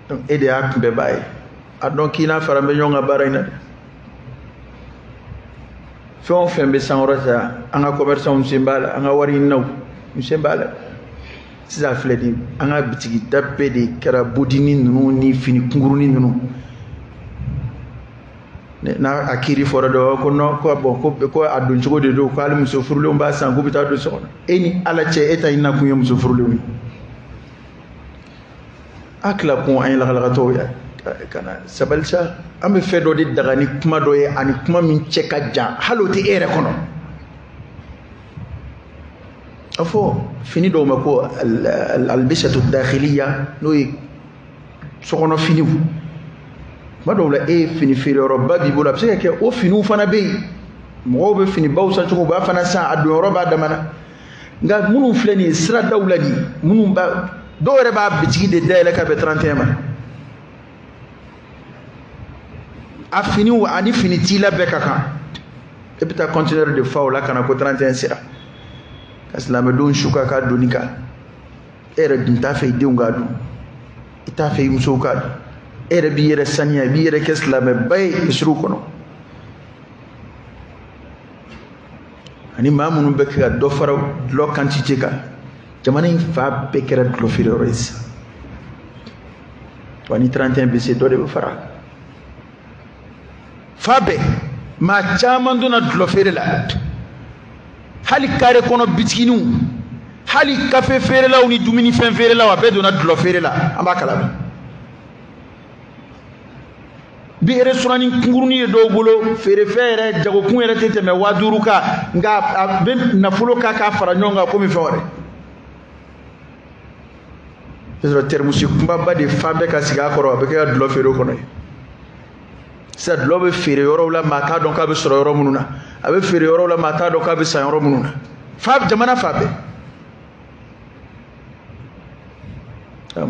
donc e de y'a kunbɛbaa ye a dɔn k'i n'a faralen bɛ ɲɔgɔn kan baara in na dɛ fɛn o fɛn bɛ sankɔrɔta an ka commerçantw sen b'a la an ka wari ɲininaw sen b'a la sisan filɛ nin an ka bitigi da bɛɛ de kɛra bodini ninnu ni fini kunkurunin ninnu n'a a kiri fɔra dɔ ko non ko bon ko ko a don cogo de don ko hali muso furulenw b'a san k'u bɛ taa don so kɔnɔ e ni ala cɛ e ta ɲinina kun ye muso furulenw ye a tila kun an ye lagalagatɔw ye ka na sabali sa an bɛ fɛn dɔ de daga ni kuma dɔ ye ani kuma min cɛ ka jan hali o tɛ e yɛrɛ kɔnɔ a fɔ fini dɔw ma ko al albisatu dakhiliya n'o ye sokɔnɔ finiw tuma dɔw la e ye fini feereyɔrɔba b'i bolo a bɛ se ka kɛ o finiw fana bɛ yen mɔgɔw bɛ finibaw san cogo u b'a fana san a donyɔrɔ b'a damana nka minnu filɛ nin ye siradaw la nin minnu b'a dɔw yɛrɛ b'a bitigi de dayɛlɛ ka bɛn 31 ma a finiw ani fini t'i la bɛɛ ka kan e bɛ taa conteneur de fa o la ka na ko 31 sera ka silamɛdenw su ka k'a donni kan e yɛrɛ dun t'a fɛ i denw k'a don i t'a fɛ i musow k'a don e yɛrɛ b'i yɛrɛ saniya i b'i yɛrɛ kɛ silamɛba ye misiriw kɔnɔ ani maa minnu bɛ kɛ ka dɔ fara dulɔ quantité kan jamana in fan bɛɛ kɛra dulɔ feere yɔrɔ ye sisan wa ni 31 bɛ se dɔ de bɛ fara a kan fan bɛɛ maa caman donna dulɔ feere la hali kare kɔnɔ bitiginiw hali kafe feerelaw ni dumunifɛn feerelaw a bɛɛ donna dulɔ feere la an b'a kalama bi restaurant kunkurunin ye dɔw bolo feerefɛn yɛrɛ jagokun yɛrɛ tɛ tɛmɛ waa duuru kan nka a bɛ nafolo k'a k'a fara ɲɔgɔn kan komi fɛn wɛrɛ i sɔrɔ tɛrimusi kunbaba de falen bɛ ka sigi a kɔrɔ a bɛ kɛ ka dulɔ feere o kɔnɔ ye sisan dulɔ bɛ feere yɔrɔw la maa t'a dɔn k'a bɛ sɔrɔ yɔrɔ minnu na a bɛ feere yɔrɔw la maa t'a dɔn k'a bɛ san yɔrɔ minnu na fa jamana fan bɛɛ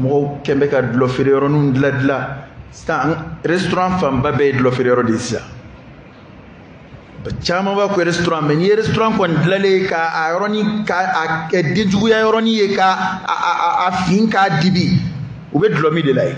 mɔgɔw kɛn bɛ ka dulɔ feere yɔrɔninw dilan dilan sisan restaurant fanba bɛɛ ye dulɔ feere yɔrɔ de ye sisan camanba ko restaurant mais n'i ye restaurant kɔni dilalen ka a yɔrɔnin ka a kɛ denjuguya yɔrɔnin ye ka a a a fin k'a dibi u bɛ dulɔ min de la yen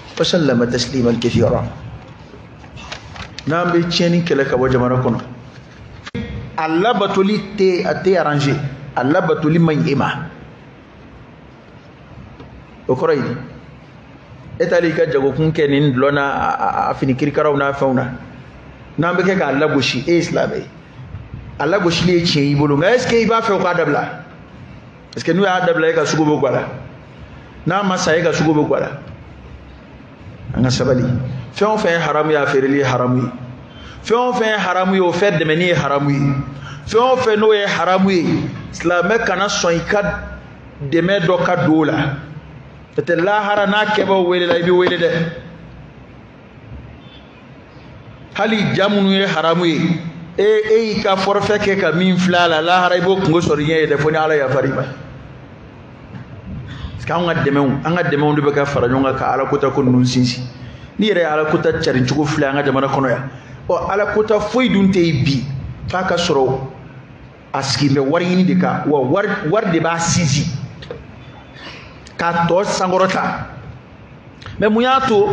wa sallama tasliman kathira n'an bɛ tiɲɛni kɛlɛ ka bɔ jamana kɔnɔ a labatoli t'e arranger a labatoli man ɲi e ma o kɔrɔ ye e taalen i ka jagokun kɛ nin dulɔ n'a a fini kirikaraw n'a fɛnw na n'an bɛ kɛ k'a lagosi e ye silamɛ ye a lagosili ye tiɲɛ y'i bolo nka est ce que i b'a fɛ u k'a dabila parce que n'u y'a dabila e ka sugu bɛ gwala n'a ma sa e ka sugu bɛ gwala an ka sabali fɛn o fɛn ye haramu ye a feereli ye haramu ye fɛn o fɛn ye haramu ye o fɛn dɛmɛni ye haramu ye fɛn o fɛn n'o ye haramu ye silamɛ kana sɔn i ka dɛmɛ dɔ ka don o la n'o tɛ lahara n'a kɛbaaw welela i bɛ wele dɛ hali ja minnu ye haramu ye e e y'i ka forfait kɛ ka min filɛ a la lahara i b'o kungo sɔrɔ i ɲɛ yen dɛ fo ni ala yafara i ma parce que anw ka dɛmɛw an ka dɛmɛw de bɛ ka fara ɲɔgɔn kan ka ala kota ko ninnu sinsin n'i yɛrɛ ye ala kota carin cogo filɛ an ka jamana kɔnɔ yan ɔ ala kota foyi dun tɛ yen bi f'a ka sɔrɔ a sigilen bɛ wari ɲini de kan wa wari de b'a sinsin k'a tɔgɔ sankɔrɔta mɛ mun y'a to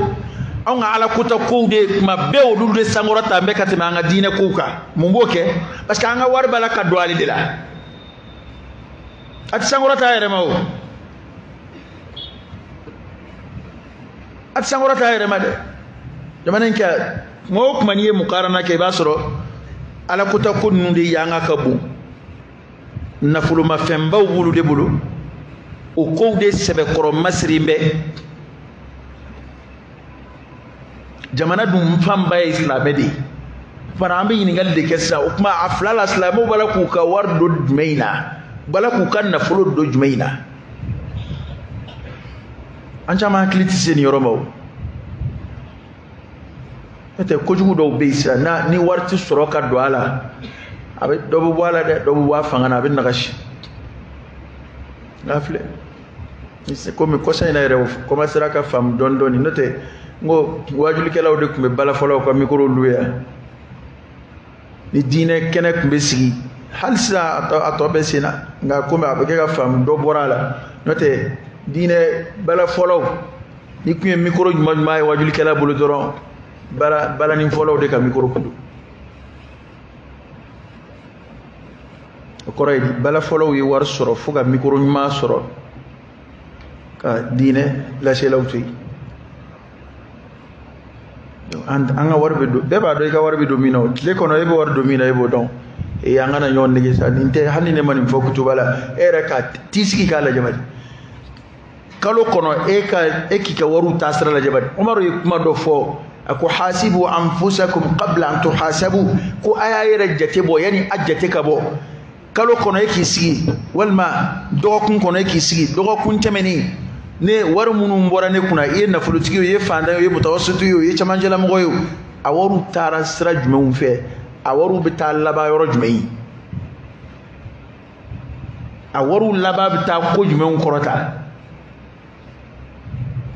anw ka ala kota kow de tuma bɛɛ olu de sankɔrɔtalen bɛ ka tɛmɛ an ka diinɛ kow kan mun b'o kɛ parce que an ka wari b'a la ka don ale de la a tɛ sankɔrɔta a yɛrɛ ma o a tɛ sankɔrɔta yɛrɛ ma dɛ jamana in kan kuma o kuma n'i ye mukarana kɛ i b'a sɔrɔ alakota ko ninnu de yanga ka bon nafolomafɛnbaw b'olu de bolo o kow de sɛbɛkɔrɔ masirilen bɛ jamana dun fanba ye silamɛ de ye fana an bɛ ɲininkali de kɛ sisan o tuma a fila la silamɛw b'a la k'u ka wari don jumɛn in na u b'a la k'u ka nafolo don jumɛn in na an caman hakili tɛ se nin yɔrɔ ma o n'o tɛ kojugu dɔw bɛ yen sisan ni wari tɛ sɔrɔ ka don a la a bɛ dɔ bɛ bɔ a la dɛ dɔ bɛ bɔ a fanga na a bɛ nagasi n'a filɛ komi kɔsa in na yɛrɛ u kɔmasera ka faamu dɔɔni dɔɔni n'o tɛ n ko waajulikɛlaw de tun bɛ balafɔlaw ka mikoro luwe yan ni diinɛ kɛnɛ tun bɛ sigi hali sisan a tɔ bɛ sen na nka komi a bɛ kɛ ka faamu dɔ bɔra a la n'o tɛ diinɛ balafɔlaw n'i tun ye mikoro ɲuman ɲuman ye waajulikɛla bolo dɔrɔn balanifɔlaw de ka mikoro kun don o kɔrɔ ye di balafɔlaw ye wari sɔrɔ fo ka mikoro ɲuman sɔrɔ ka diinɛ laselaw to yen an ka wari bɛ don bɛɛ b'a dɔn i ka wari bɛ don min na o tile kɔnɔ e bɛ wari don min na e b'o dɔn ee an kana ɲɔgɔn nɛgɛn sa nin tɛ hali ni ne ma nin fɔ kutuba la e yɛrɛ ka t'i sigi k'a lajɛ bani kalo kɔnɔ e ka e k'i ka wariw taasira lajɛ bani umaru ye kuma dɔ fɔ a ko hasibu anfusakum qabla an tuhasabu ko a y'a yɛrɛ jate bɔ yanni a jate ka bɔ kalo kɔnɔ e k'i sigi walima dɔgɔkun kɔnɔ e k'i sigi dɔgɔkun tɛmɛnen ne wari minnu bɔra ne kunna i ye nafolotigi ye o i ye fantan ye o i ye mutawasitu ye o i ye cɛmancɛlamɔgɔ ye o a wariw taara sira jumɛnw fɛ a wariw bɛ taa laban yɔrɔ jumɛn ye a wariw laban bɛ taa ko jumɛnw kɔrɔta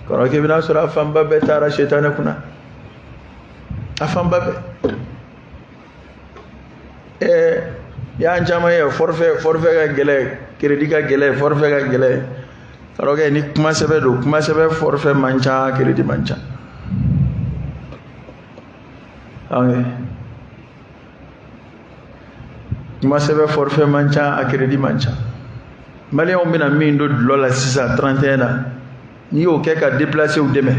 kɔrɔkɛ i bɛna sɔrɔ a fanba bɛɛ taara sɛtanɛ kunna a fanba bɛɛ ɛɛ y'an caman ye forfait forfait ka gɛlɛn crédit ka gɛlɛn forfait ka gɛlɛn kɔrɔkɛ ni kuma sɛbɛ don kuma sɛbɛ forfait man ca crédit man ca kuma sɛbɛ forfait man ca a crédit man ca maliyɛnw bɛna min don dɔlɔ la sisan 31 na n'i y'o kɛ ka depilasew dɛmɛ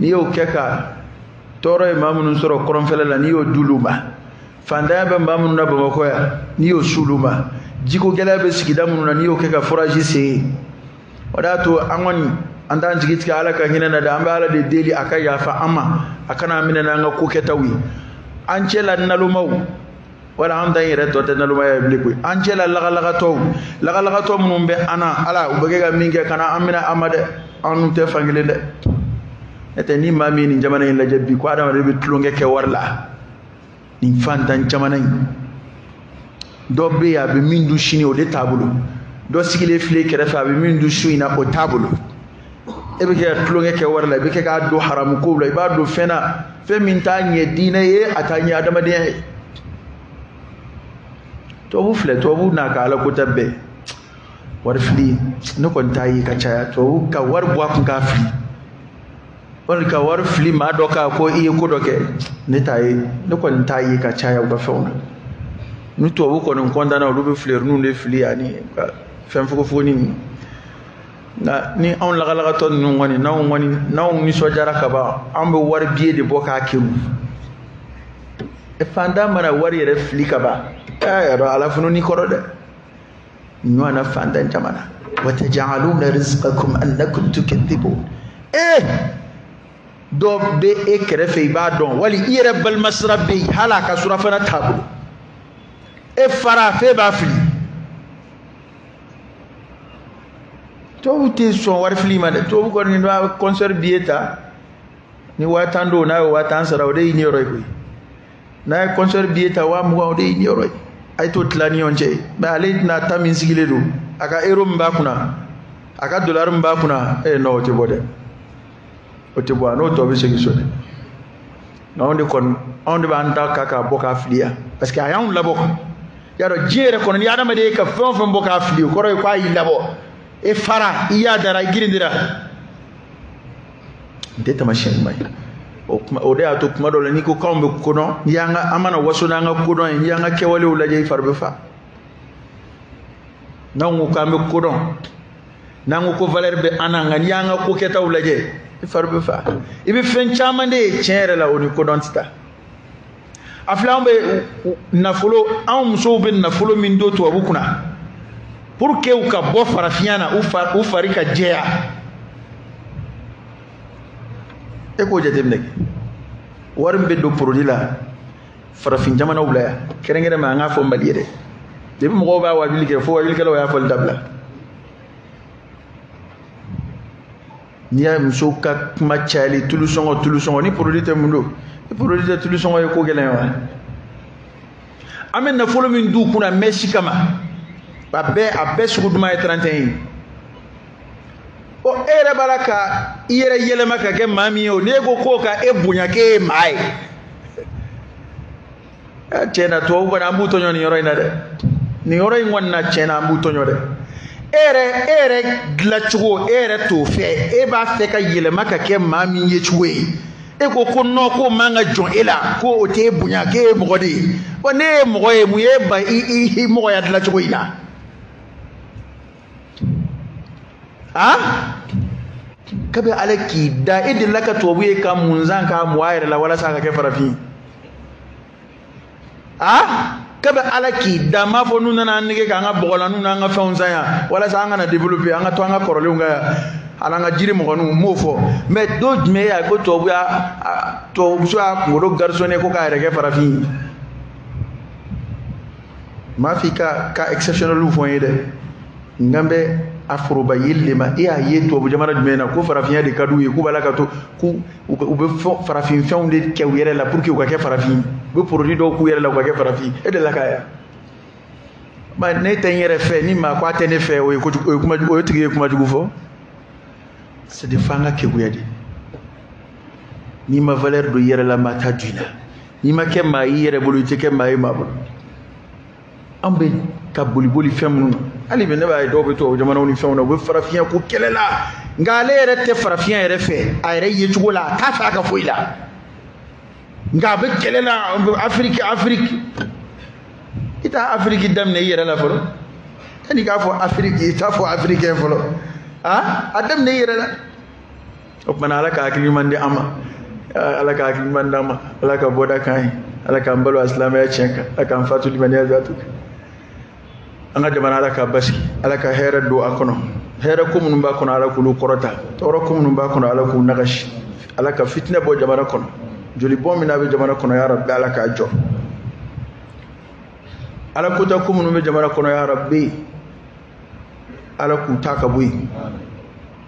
n'i y'o kɛ ka tɔɔrɔ ye maa minnu sɔrɔ kɔrɔnfɛla la n'i y'o d'olu ma fantanya bɛ maa minnu na bamakɔ yan n'i y'o s'olu ma jiko gɛlɛya bɛ sigida minnu na n'i y'o kɛ ka foraji sen yen o de y'a to an kɔni an t'an jigi tigɛ ala ka hinɛ an na dɛ an bɛ ala de deli a ka yafa an ma a kana an minɛ n'an ka ko kɛtaw ye an cɛ la nalomaw wala an ta in yɛrɛ tɔ tɛ nalomaya ye bilen koyi an cɛla lagalagatɔw lagalagatɔ minnu bɛ an na ala u bɛ kɛ ka min kɛ kana an minɛ a ma dɛ an n'u tɛ fan kelen dɛ n'o tɛ ni maa min ye nin jamana in lajɛ bi ko adamaden bɛ tulonkɛ kɛ wari la nin fantan jamana in dɔ bɛ yen a bɛ min dun sini o de t'a bolo dɔ sigilen file kɛrɛfɛ a bɛ min dun su in na o t'a bolo e bɛ kɛ ka tulonkɛ kɛ wari la i bɛ kɛ k'a don haramu kow la i b'a don fɛn na fɛn min t'a ɲɛ diinɛ ye a t'a ɲɛ adamadenya ye tubabu filɛ tubabu n'a ka ala ko tɛ bɛɛ wari fili ne kɔni t'a ye ka caya tubabu ka wari bɔ a kun k'a fili wali ka wari fili maa dɔ kan ko i ye ko dɔ kɛ ne t'a ye ne kɔni t'a ye ka caya u ka fɛnw na ni tubabu kɔni kɔntanna olu bɛ filɛriniw de fili ani ka fɛn fogofogonin ninnu nka ni anw lagalagatɔ ninnu kɔni n'anw kɔni n'anw nisɔndiyara ka ban an bɛ wari biye de bɔ k'a kɛrun fantan mana wari yɛrɛ fili ka ban a y'a sɔrɔ ala funun i kɔrɔ dɛ ɲɔgɔnna fantan jamana watajaluna rizqakum annakum tukadhibun ee eh! dɔ bɛ e kɛrɛfɛ i b'a dɔn wali i yɛrɛ balimasira bɛ yen hali a ka surafana t'a bolo e fara f'e b'a fili tubabu tɛ sɔn wari fili ma dɛ tubabu kɔni n'a ye kɔnsɛri biye ta ni waa tan don n'a ye waa tan sara o de y'i niyɔrɔ ye koyi n'a ye kɔnsɛri biye ta waa mugan o de y'i niyɔrɔ ye a ye t'o tila ni ɲɔgɔn cɛ mɛ ale tɛna ta min sigilen don a ka ero min b'a kunna a ka dolari min b'a kunna ee nɔ o tɛ bɔ dɛ o tɛ bɔ a n'o tɔ bɛ segin so dɛ anw de kɔni anw de b'an ta ka k'a bɔ k'a fili yan parce que a y'anw labɔ i y'a dɔn diɲɛ yɛrɛ kɔnɔ ni adamaden ye ka fɛn o fɛn bɔ k'a fili o kɔrɔ ye k'a y'i labɔ e fara i yadara i girindira nin tɛ taamasiyɛn ɲuman ye o kuma o de y'a to kuma dɔ la n'i ko k'anw bɛ kodɔn n'i y'an ka an mana waso n'an ka kodɔn ye n'i y'an ka kɛwalew lajɛ i fari bɛ fa n'anw ko k'an bɛ kodɔn n'an ko ko valeur bɛ an na nka n'i y'an ka ko kɛtaw lajɛ i fari bɛ fa i bɛ fɛn caman de ye tiɲɛ yɛrɛ la o ni kodɔn tɛ taa a filɛ anw bɛ nafolo anw musow bɛ nafolo min don tubabu kunna pour que u ka bɔ farafinya na u fari ka jɛya e k'o jateminɛ kɛ wari min bɛ don porodi la farafin jamanaw la yan kɛrɛnkɛrɛnma an k'a fɔ mali yɛrɛ depuis mɔgɔw b'a wajuli kɛ fo wajulikɛlaw y'a fɔli dabila n'i y'a ye musow ka kuma cayali tulu sɔngɔ tulu sɔngɔ ni produit tɛ mun don ni produit tɛ tulu sɔngɔ ye ko gɛlɛn ye wa an bɛ nafolo min d'u kunna mɛsi kama a bɛɛ a bɛɛ sugu duman ye 31 ye ɔ e yɛrɛ b'a la ka i yɛrɛ yɛlɛma ka kɛ maa min ye o n'e ko k'o ka e bonya k'e ye maa ye tiɲɛ na tubabu kɔni an b'u tɔɲɔ nin yɔrɔ in na dɛ nin yɔrɔ in kɔni na tiɲɛ na an b'u tɔɲɔ dɛ e yɛrɛ e yɛrɛ dilancogo e yɛrɛ t'o fɛ e b'a fɛ ka yɛlɛma ka kɛ maa min ye cogo ye e ko ko non k'o man ka jɔn e la ko o t'e bonya k'e ye mɔgɔ de ye wa ne ye mɔgɔ ye mun ye ba i i i mɔgɔya dilancogo in na a kabi ala k'i da e delila ka tubabu ye ka mun san k'a mɔ a yɛrɛ la walasa a ka kɛ farafin a kabi ala k'i da n m'a fɔ n'u nana an nɛgɛn k'an ka bɔgɔlan ninnu n'an ka fɛnw san yan walasa an kana développer an ka to an ka kɔrɔlenw kan yan ani an ka jirimɔgɔninw n m'o fɔ mais don jumɛn y'a ko tubabu y'a tubabumuso y'a kunkolo garçonner ko k'a yɛrɛ kɛ farafin ye m'a f'i ka cas exceptionnel fɔ n ye dɛ n kan bɛ a foroba yeli de ma e y'a ye tubabu jamana jumɛn na ko farafinya de ka d'u ye k'u b'a la ka to k'u u bɛ fɛn farafin fɛnw de kɛ u yɛrɛ la pour que u ka kɛ farafin u bɛ produit dɔw k'u yɛrɛ la u ka kɛ farafin e delila k'a ye wa ne tɛ n yɛrɛ fɛ ni maa ko a tɛ ne fɛ o ye kojugu o ye kuma o tigi ye kuma jugu fɔ c'est de f'an ka keguya de n'i ma valeur don i yɛrɛ la maa t'a don i la n'i ma kɛ maa i yɛrɛ bolo i tɛ kɛ maa ye maa bolo an bɛ ka boliboli fɛn minnu na hali bi ne b'a ye dɔw bɛ tubabu jamanaw ni fɛnw na u bɛ farafinya ko kɛlɛ la nka ale yɛrɛ tɛ farafinya yɛrɛ fɛ a yɛrɛ yecogo la a t'a fɛ a ka foyi la nka a bɛ kɛlɛ la afiriki afiriki i tɛ afiriki daminɛ i yɛrɛ la fɔlɔ yanni i k'a fɔ afiriki i t'a fɔ africain fɔlɔ a a daminɛ i yɛrɛ la o tuma na ala ka hakili ɲuman di an ma ala ka hakili ɲuman d'an ma ala ka bɔda k'an ye ala k'an balo asilamɛya tiɲɛ kan ala k'an fatu limaniya zatu kan an ka jamana ala ka basigi ala ka hɛrɛ don a kɔnɔ hɛrɛ ko minnu b'a kɔnɔ ala k'olu kɔrɔta tɔɔrɔ ko minnu b'a kɔnɔ ala k'u nagasi ala ka fitinɛ bɔ jamana kɔnɔ jolibɔn min n'a bɛ jamana kɔnɔ ya rabbi ala k'a jɔ ala kɔnta ko minnu bɛ jamana kɔnɔ ya rabbi ala k'u ta ka bɔ yen